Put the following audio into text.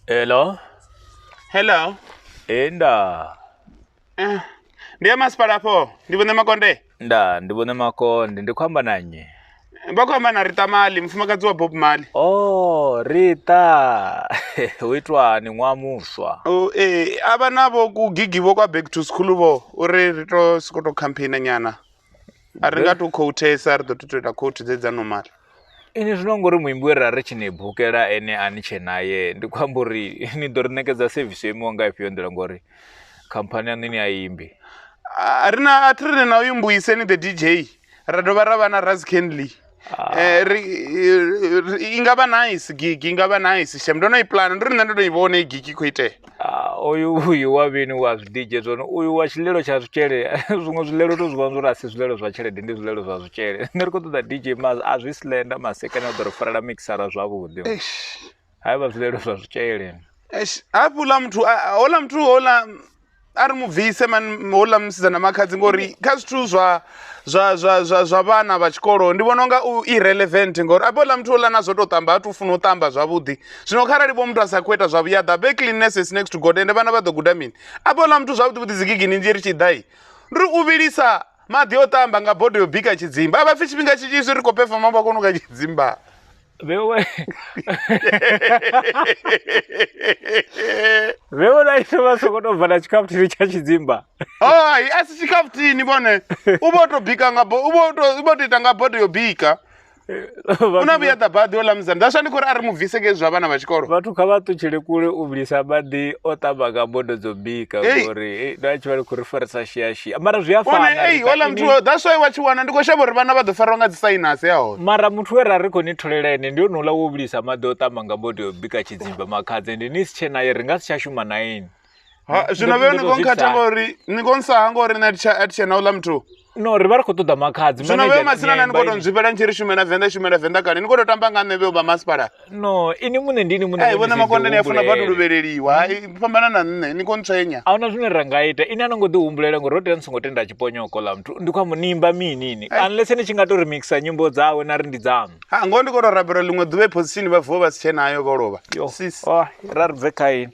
Hello? Hello. Ee, nda. Eh, Ndi ya masipala afho. Ndi vhone makonde. Nda, ndi vhone makonde, ndi khou amba na nnyi? vha khou amba na rita mali mufumakadzi wa bob mali o oh, rita hu itwani ṅwaha muswa oh, ee a vha na vho kugigi vho kwa back to school vho uri ri to soko to campaigna nyana a ri nga to khouthesa ri ḓo to to ita khouthi dze dza normal ini zwino ngori muimbi we ra ri tshi ni bukela ene a ni tshe naye ndi khou amba uri ni ḓo ri ṋekedza sevisi yo imiwa nga ifhio nḓila ngori khamphani yaṋu ni a imbi a ri na a thi ri na uyu mbuiseni the dj ra dovha ra vha na raz canley ah. eh, i nga vha nice gigi i nga vha nice shem ndo no i plana ndi ri nṋe ndo no i vhona i gigi khou itea ah, uyu uyu wa vhini wa zwidije zwone uyu wa tshilelo tsha zwitshele zwiṅwe zwilelo to zwivhona zwori a si zwilelo zwa tshelede ndi zwilelo zwa zwitshele nṋe ri khou ṱoḓa dj ma a zwi slenda masekane a ḓo ri farela mixara zwavhuḓi hai vha zwilelo zwa zwitshele eish hafhuḽa muthu a- a- houḽa muthu houḽa a ri mu bvise man houḽa musidzana makhadzi ngori kha zwithu zwa zwa zwa zwa zwa vhana vha tshikolo ndi vhona unga u irrelevant ngori abe houḽa muthu houḽa na zwo tou ṱamba ha tu funa u ṱamba zwavhuḓi zwino kharali vho muthu a sa khou ita zwa vhuyaḓa be cleanness is next to god ende vhana vha ḓo guda mini abe houḽa muthu zwavhuḓi vhuḓi dzigigini nzhi ri tshi ḓai ndi ri u vhilisa maḓi o ṱamba nga bodo yo bika tshidzimba a vha pfhi tshifhinga tshinzhi zwi ri khou pefoma vha kona u ka tshidzimba Veo, eh. veo na ife vha songo tou bva na tshikhafuthini tsha tshidzimba hai a si tshikhafuthini vhone u vho to bika nga bo- u vho to- u vho to ita nga bodo yo bika u na vhuya ḓa baḓi o ḽa musanda that's why ndi khou ri a ri mu bvise ngei zwa vhana vha tshikolo vhathu kha vha ṱutshele kule u vhilisa maḓi o ṱamba nga bodo dzo bika Hey. ngori eh, na tshi vha ri khou ri farisa shiashi Tshi- mara zwi a one fana ei Rita, ola ini- muthu that's why wa tshi wana ndi khou shavha uri vhana vha ḓo farwa nga dzi sainasi ya hone mara muthu we ra ri khou ni tholela ene ndi onouḽa wo vhilisa maḓi o ṱamba nga bodo bika tshidzimba makhadze ndi ni si tshe naye ri nga si tsha shuma na ini Ha, zwino vhe ni ndo khou zwi nkhatha psa. ngori ni khou nsaha ngori nṋe a thi tsha- a thi tshena ola muthu no ri vha ri khou ṱoḓa makhadzi zwino manager vhe matsina na ni nyemba khou tou ini. nzwifhela ni tshi ri shumela venḓa shumela venḓa kale ni khou tou tamba nga nṋe vhe u vha masipala no ini muṋe ndi ini muṋe ai vhona makonde ni a funa vhathu luvheleliwa hai mm. fhambana na nṋe ni kontswenya a huna zwine ra nga ita ini a no ngo ḓi humbulela ngori ro tea ni songo tenda tshiponyoko ḽa muthu ndi khou amba nimba mini ini unless ni tshi nga to remixer nyimbo dzawe na ri ndi dzaṋu ha ngoho ndi khou to rabela ḽiṅwe ḓuvha iphosishini vha vuwa vha si tshe nayo vho lovha oh, ra ri bve kha ini